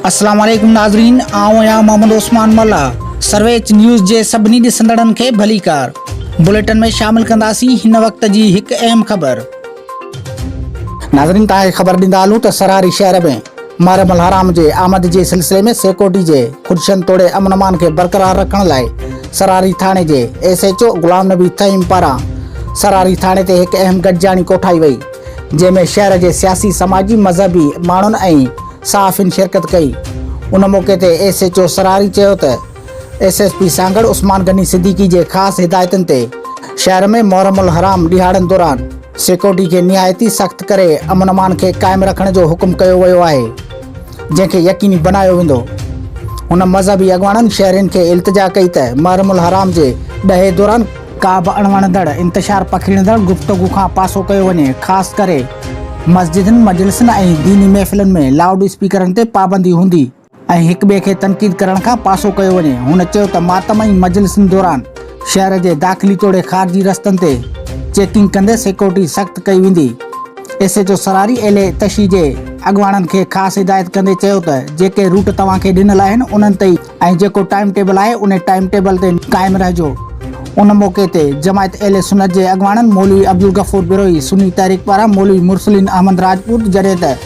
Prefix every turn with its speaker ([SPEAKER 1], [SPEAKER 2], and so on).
[SPEAKER 1] السلام عليڪم ناظرين آئون آهيان محمد عثمان ملا سرويچ نيوز جي سڀني ڏسندڙن کي ڀليڪار بليٽن ۾ شامل ڪنداسين هن وقت جي هڪ اهم خبر ناظرين توهان کي خبر ڏيندا هلون ته سرهاري شهر ۾ محرم الحرام جي آمد جي سلسلي ۾ سيڪورٽي جي خدشن توڙي امن امان کي برقرار رکڻ لاء سرهاري ٿاڻي جي S H O Ghulam Nabi Fahim پاران سرهاري ٿاڻي تي هڪ اهم گڏجاڻي ڪوٺائي وئي جنهن ۾ شهر جي سياسي سماجي مذهبي ماڻهن ۽ صحافين شرڪت ڪئي ان موقعي تي ايس ايچ او سرهاري چيو ته S S P Sanghar Usman Ghani Siddiqui جي خاص هدايتن تي شهر ۾ محرم الحرام ڏهاڙن دوران سيڪيورٽي کي نهايت ئي سخت ڪري امن امان کي قائم رکڻ جو حڪم ڪيو ويو آهي جنهن کي يقيني بنايو ويندو هن مذهبي اڳواڻن شهرين کي التجا ڪئي ته محرم الحرام جي ڏهي دوران ڪا به اڻوڻندڙ انتشار پکيڙيندڙ گفتگو کان پاسو ڪيو وڃي خاص ڪري مسجدن مجلسن ۽ ديني محفلن ۾ لائوڊ اسپيڪرن تي پابندي هوندي. ۽ هڪ ٻئي کي تنقيد ڪرڻ کان پاسو ڪيو وڃي. هن چيو ته ماتم ۽ مجلسن دوران شهر جي داخلي توڙي خارجي رستن تي چيڪنگ ڪندي سيڪيورٽي سخت ڪئي ويندي. S H O Sarari L A تشي جي اڳواڻن کي خاص هدايت ڪندي چيو ته جيڪي روٽ توهان کي ڏنل آهن انهن تي ئي ۽ جيڪو ٽائيم ٽيبل آهي انهي ٽائيم ٽيبل تي قائم رهجو. ان موقعي تي جماعت اهل سنت جي اڳواڻن مولوي عبدالغفور بروهي، سني تحريڪ پاران مولوي مرسلين احمد راجپوت جڏهن ته.